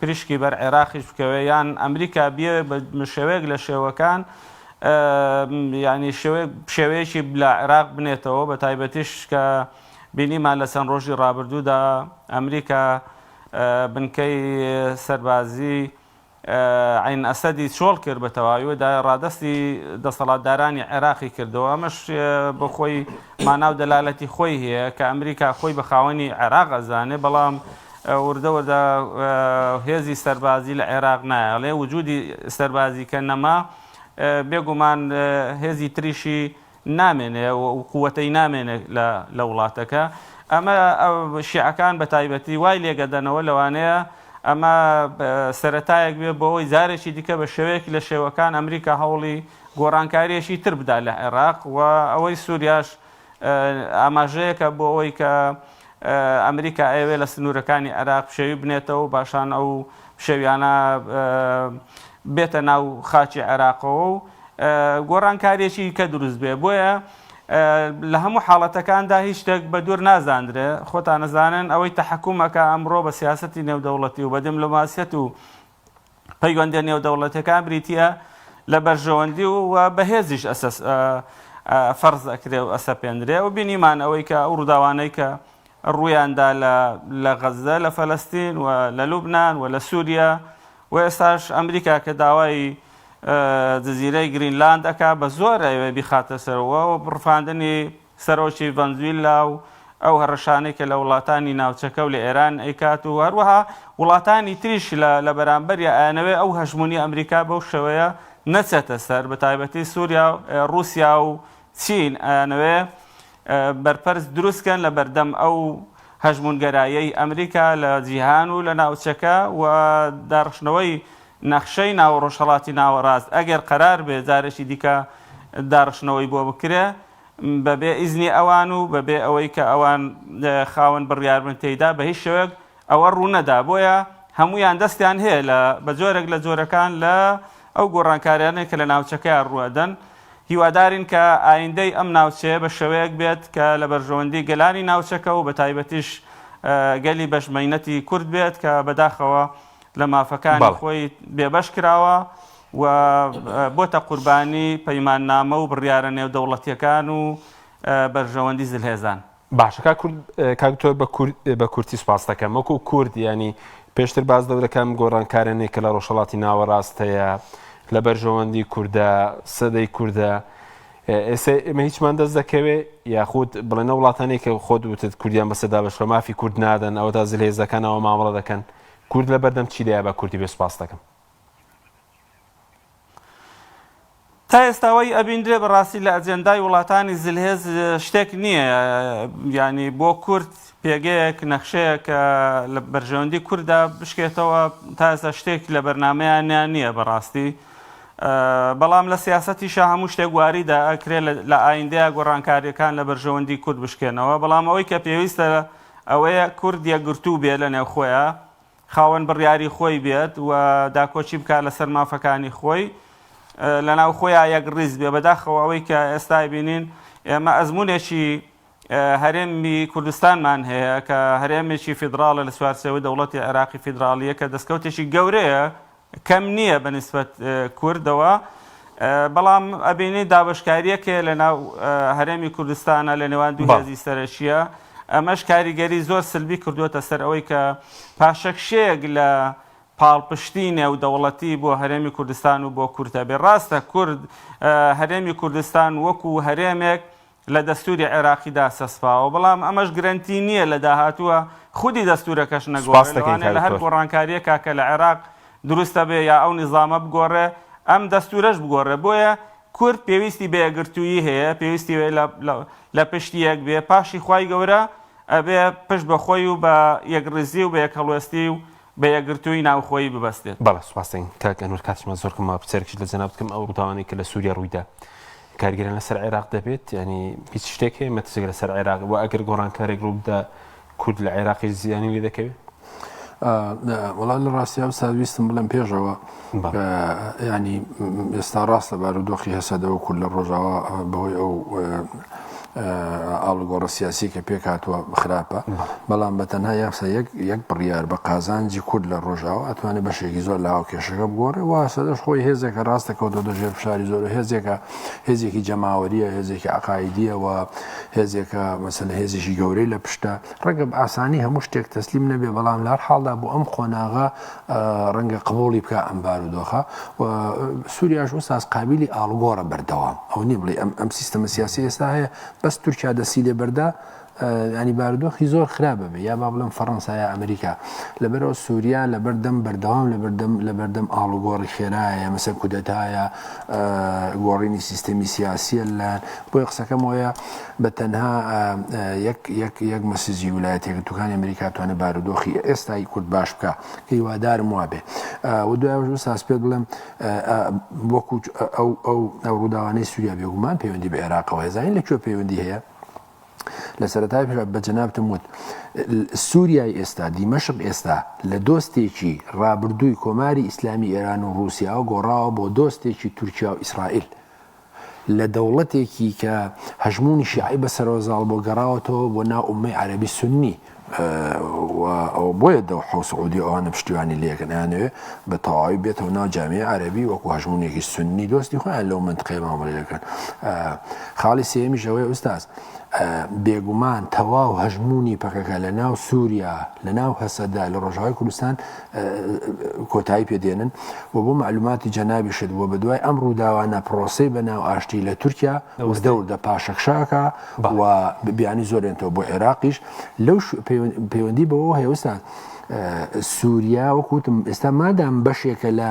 پریشکی بەر عێراقیش بکەوێت یان ئەمریکا بیەوێت بە شێوەیەک لە شێوەکان یانی شێوەیەکی لە عێراق بنێتەوە بە تایبەتیش کە بینیمان لە چەند ڕۆژی ڕابردوودا ئەمریکا بنکەی سەربازی عین ئەسەدی چۆڵ کرد بە تەواویدا ڕادستی دەسەڵاتدارانی عێراقی کردەوە ئەمەش بۆ خۆی ماناو دەلالەتی خۆی هەیە کە ئەمریکا خۆی بە خاوەنی عێراق ئەزانێ بەڵام وردەوردە هێزی سەربازی لە عێراق نایە ڵێ وجودی سەربازی کە نەما بێگومان هێزی تریشی نامێنێ قوتەی نامێنێ لە وڵاتەکە ئەمە شیعەکان بە تایبەتی وای لێگەدەنەوە لەوانەیە ئەمە سەتایەک بێ بۆەوەی جارێکی دیکە بە شێوەیەک لە شێوەکان ئەمریکا هەوڵی گۆڕانکاریەکی تر بدا لە عێراق و ئەوەی سووریاش ئاماژەیەکە بۆ ئەوەی کە ئەمریکا ئەیەوێت لە سنوورەکانی عێراق پشێوی بنێتەوە و باشان ئەو پشێویانە بێتە ناو خاچی عێراقەوە و گۆڕانکاریێکی کە دروست بێ بۆیە لە هەموو حاڵەتەکاندا هیچ شتێک بە دوور نازاندرێ خۆتان نەزانن ئەوەی تەحکومەکە ئەمڕۆ بە سیاستی نێودەوڵەتی و بە دملوماسیەت و پەیوەندیە نێودەوڵەتەکان بریتە لە بەرژەوەندی و و بەهێزیش فەرز ئەکرێ و ئەسەپێنرێ و بینیمان ئەوەی کە ئەو ڕووداوانەی کە ڕوویاندا لە غەزدە لە فەلستین و لە لوبناان و لە سووریا و ئێستاش ئەمریکا کە داوای جززیرەی گرینلاند ئەک بە زۆر ئەوێ بیخاتە سەرەوە و بڕفاندنی سەرۆکی ڤەنزویلا و ئەو هەڕەشانەی کە لە وڵاتانی ناوچەکە و لە ئێران ئەیکات و هەروەها وڵاتانی تریش لە لە بەرامبەریا ئەیانەوێت ئەو هەژموونی ئەمریکا بەو شێوەیە نەچێتە سەر بە تایبەتی سوریا ڕوسیا و چین ئەیانەوێت بەرپەرچ دروست کەن لە بەردەم ئەو هەژموونگەرایەی ئەمریکا لە جیهان و لە ناوچەکە و داڕشتنەوەی نەخشەی ناو ڕۆژهەڵاتی ناوەڕاست ئەگەر قەرار بێت جارێکی دیکە داڕشتنەوەی بۆ بکرێت بە بێ ئیزنی ئەوان و بە بێ ئەوەی کە ئەوان خاوەن بڕیار بن تێیدا بە هیچ شێوەیەک ئەوە ڕوو نەدا بۆیە هەموویان دەستیان هەیە لە بە جۆرێک لە جۆرەکان لە ئەو گۆڕانکاریانەی کە لە ناوچەکەیان ڕوو ئەدەن هیوادارین کە ئایندەی ئەم ناوچەیە بە شێوەیەک بێت کە لە بەرژەوەندی گەلانی ناوچەکە و بە تایبەتیش گەلی بەش مەینەتی کورد بێت کە بەداخەوە لە مافەکانی خۆی بێبەش کراوە و بۆتە قوربانی پەیماننامە و بڕیارە نێودەوڵەتیەکان و بەرژەوەندی زلهێزان. باشە کاک کورد کاک دکتۆر بە کورتی سوپاستەکەم وەکو کورد یانی پێشتر باز دەورەکەم گۆڕانکارێنێک کە لە ڕۆژهڵاتی ناوەڕاست هەیە لە بەرژەوەندی کووردە سەدەی کووردە ئێستا ئمە هیچمان دەست دەکەوێ یاخود بڵێنە وڵاتانی کە خۆ دوتت کوردیان بەسەدا بەشکە مافی کورد نادەن ئەوە تا زلێزەکانەوە مامەڵە دەکەن کورد لە بەردەم چیدای بە کوردی بێ سوپاس دەکەم تا ئێستا وەی ئەبیندرێ بە ڕاستی لە ئەجێندای وڵاتانی زلهێز شتێک نییە یانی بۆ کورد پێگەیەک نەخشەیە کە لە بەرژەوەندی کووردا بشکێتەوە تا ئێستا شتێک لە بەرنمەیانیان نییە بەڕاستی بەڵام لە سیاستی شە هەموو شتێک واریدا ئەکرێ لە ئایندەیە گۆڕانکاریەکان لە بەرژەوەندی کورد بشکێنەوە بەڵام ئەوەی کە پێویستە ئەوەیە کورد یەکگرتوو بێ لە نێوخۆیە خاوەن بڕیاری خۆی بێت و داکۆکی بکات لەسەر مافەکانی خۆی لەناو خۆیان یەکڕیز بێ بەداخەوە ئەوەی کە ئێستا بینین ئێمە ئەزمونێکی هەرێمی کوردستانمان هەیە کە هەرێمێکی فیدراڵە لە سوارسەوەی دەوڵەتی عێراقی فیدراالیە کە دەستکەوتێکی گەورەیە کەم نییە بە نیسبەت کوردەوە بەڵام ئەبینی دابشکاریەک هەیە لە ناو هەرێمی کوردستانە لە نێوان دوو هێزی سەرەکیە ئەمەش کاریگەری زۆر سلبی کردووەتە سەر ئەوەی کە پاشەکشەیەک لە پاڵپشتی نێو دەوڵەتی بۆ هەرێمی کوردستان و بۆ کوردە بێ ڕاستە کورد هەرێمی کوردستان وەکو هەرێمێک لە دەستوری عێراقیدا چەسپاوە، بەڵام ئەمەش گرەنتی نییە لە داهاتووە، خودی دەستورەکەش نەگۆڕێ، لەوانەیە لە هەر گۆڕانکارییەکا کە لە عێراق دروست ئەبێ یا ئەو نیزامە بگۆڕێ، ئەم دەستورەش بگۆڕێ، بۆیە کورد پێویستی بە یەکگرتوویی هەیە، پێویستی هەیە لە پشت یەک بێ، پاشی خوای گەورە ئەبێ پشت بە خۆی و بە یەکڕیزی و بە یەکهەڵوێستی و بە یەکگرتوویی ناوخۆیی ببەستێت. بەڵێ سوپاستان کاک ئەنوەر کاتشمان زۆر کەمە پرسیارێکیش لە جەنابت بکەم ئەو ڕووداوانەی کە لە سووریا ڕوویدا کارگێران لەسەر عێراق دەبێت یانی هیچ شتێک هەیە مەترسیێک لەسەر عێراق وە ئەگەر گۆڕانکارێک ڕوو بدا کورد لە عێراقیش زیانی لێ دەکەوێت؟ وەڵا لە ڕاستیا ئەو ساویستم بڵێم پێشەوە. یانی ئێستا ڕاستە بارودۆخی هەسەدە و کورد لە ڕۆژاوا بەهۆی ئەو ئاڵگۆڕە سیاسی کە پێک هاتووە خراپە بەڵام بە تەنها یاسا یەک یەک بڕیار بە قازانجی کورد لە ڕۆژاوە ئەتوانێت بەشێکی زۆر لە هاوکێشەکە بگۆڕێ واسە دەش خۆی هێزێکە ڕاستە کەوتۆ دەژێر فشاری زۆر هێزێکە هێزێکی جەماوەریە هێزێکی عقاعدیەوە هێزێکە مەسەن هێزیشی گەورەی لە پشتە ڕگە ئاسانی هەموو شتێک تەسلیم نەبێ بەڵام لار حاڵدا بۆ ئەم قۆناغا ڕەنگە قبوڵی بکا ئەم بارودۆخە و سوریاش ئوستاز قابیلی ئاڵوگۆڕە بەردەوام ئەوە نیە بڵێ ئەم ئەم سیستەمە سیاسی ئێستا هەیە بەس تورکیا دەسی لێ بەردا ینی بارودۆخی زۆر خراپە بێ یا با بڵم فەڕەنسا یا ئەمریکا لەبەرەوە سووریا لە بەردەم بەردەوام لە بەردەم لە بەردەم ئاڵوگۆڕی خێرایە مەسەر کودەتایە گۆڕینی سیستەمی سیاسیە لە بۆی قسەکەمەوەە بە تەنها یەک یەک یەک مەسیجی ولایەتە یەکگرتووەکانی ئەمریکا توانێت بارودۆخی ئێستای کورد باش بکا کە هیوادارم وابێ و دوایش ساس پێت بڵێم وەکو ئەو ئەو ڕووداوانەی سووریا بێگومان پەیوەندی بە عێراقەوە هێزانین لە کوێ پەیوەندی هەیە لە سەرەتای پێ بە جەنابتم وت سووریای ئێستا دیمەشق ئێستا لە دۆستێکی ڕابردووی کۆماری ئیسلامی ئێران و رووسیاوە گۆڕاوە بۆ دۆستێکی تورکیا و ئیسرائیل لە دەوڵەتێکی کە هەژموونی شیعەی بە سەرەوەزاڵ بۆ گەڕاوەتەوە بۆ ناو ئوممەی عەرەبی سوننی و ئەوە بۆیە دەوحە و سعودیە ئەوانە پشتیوانی لێ کەن ئەیانەوێ بە تەواوی بێتەوە ناو جامیەی عەرەبی وەکو هەژموونێکی سوننی دۆستی خۆیان لەو مەنتقەیە مامەڵە لێ کەن خاڵی سێیەمیش ئەوەیە ئوستاز بێگومان تەواو هەژموونی پەکەکە لە ناو سووریا لە ناو هەسەدا لە ڕۆژاوای کوردستان کۆتایی پێ دێنن و بۆ معلوماتی جەنابیشت بووە بە دوای ئەم ڕووداوانە پرۆسی بە ناو ئاشتی لە تورکیا وزدەور دە پاشەکشاکە و بیانی زۆرێنەوە بۆ عێراقیش لەو پەیوەندی بەوە هێوستان. سووریا وەکوتم ئێستا مادام بەشێکە لە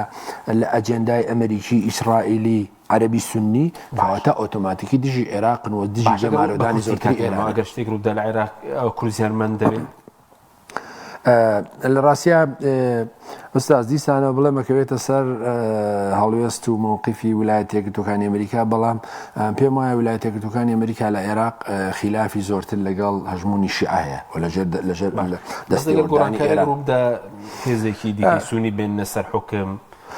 لە ئەجێندای ئەمریکی ئیسرائیلی عەربی سنی باواتە ئۆتۆماتیکی دژی عێراقن و دژی جەمارەدانی زۆرتری ئێراگەشتێک ڕوودا لە عێراق کورزیان من دەبێت لە ڕاستە ئوستاز دیسانەوە بڵێ مەکەوێتە سەر هەڵوێست و مووقیفی ولایە تێکردەکانی ئەمریکا بەڵام پێم وایە ولایە تێکردەکانی ئەمریکا لە عێراق خلافی زۆرتر لەگەڵ هەژمونی شعاەیە و لەژێر لەژێر دەستی گۆڕانی ئێران هێزێکی دیسونی بێن لەسەر حکم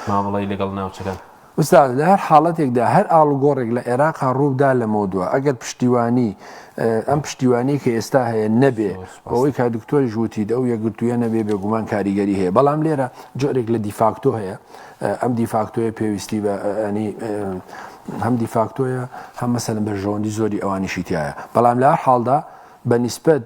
مامەڵی لەگەڵ ناوچەکان ئوستاز لە هەر حاڵەتێکدا هەر ئاڵوگۆڕێک لە عێراقا ڕوو بدا لەمەودوا ئەگەر پشتیوانی ئەم پشتیوانیەی کە ئێستا هەیە نەبێ زۆر سوپاس. بەوەی کە دکتۆریش وتیت ئەو یەکگرتوویە نەبێ بێگومان کاریگەری هەیە بەڵام لێرە جۆرێک لە دیفاکتۆ هەیە ئەم دیفاکتۆیە پێویستی بە ئەنی هەم دیفاکتۆیە هەم مەسەلەن بەرژەوەندی زۆری ئەوانیشی تایە بەڵام لە هەر حاڵدا بە نیسبەت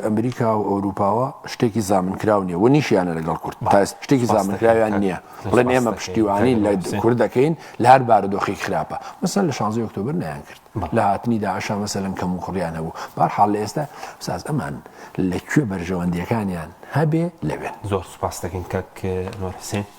ئەمریکا و ئەوروپاوە شتێکی زامنکراو نیە و نیشیانە لەگەڵ کورد شتێکی زامنکراویان نییە بڵێن ئێمە پشتیوانی لە کورد دەکەین لە هەر بارودۆخی خراپە مەسەر لە شانزی ئۆکتۆبر نیان کرد لە هاتنی داعشا مەسەلم کەم و کوڕیان هەبوو بارحاڵ لە ئێستا ساز ئەمان لە کوێ بەرژەوەندیەکانیان هەبێ لەوێن زۆر سپاس دەکەین کەک نۆر حسێن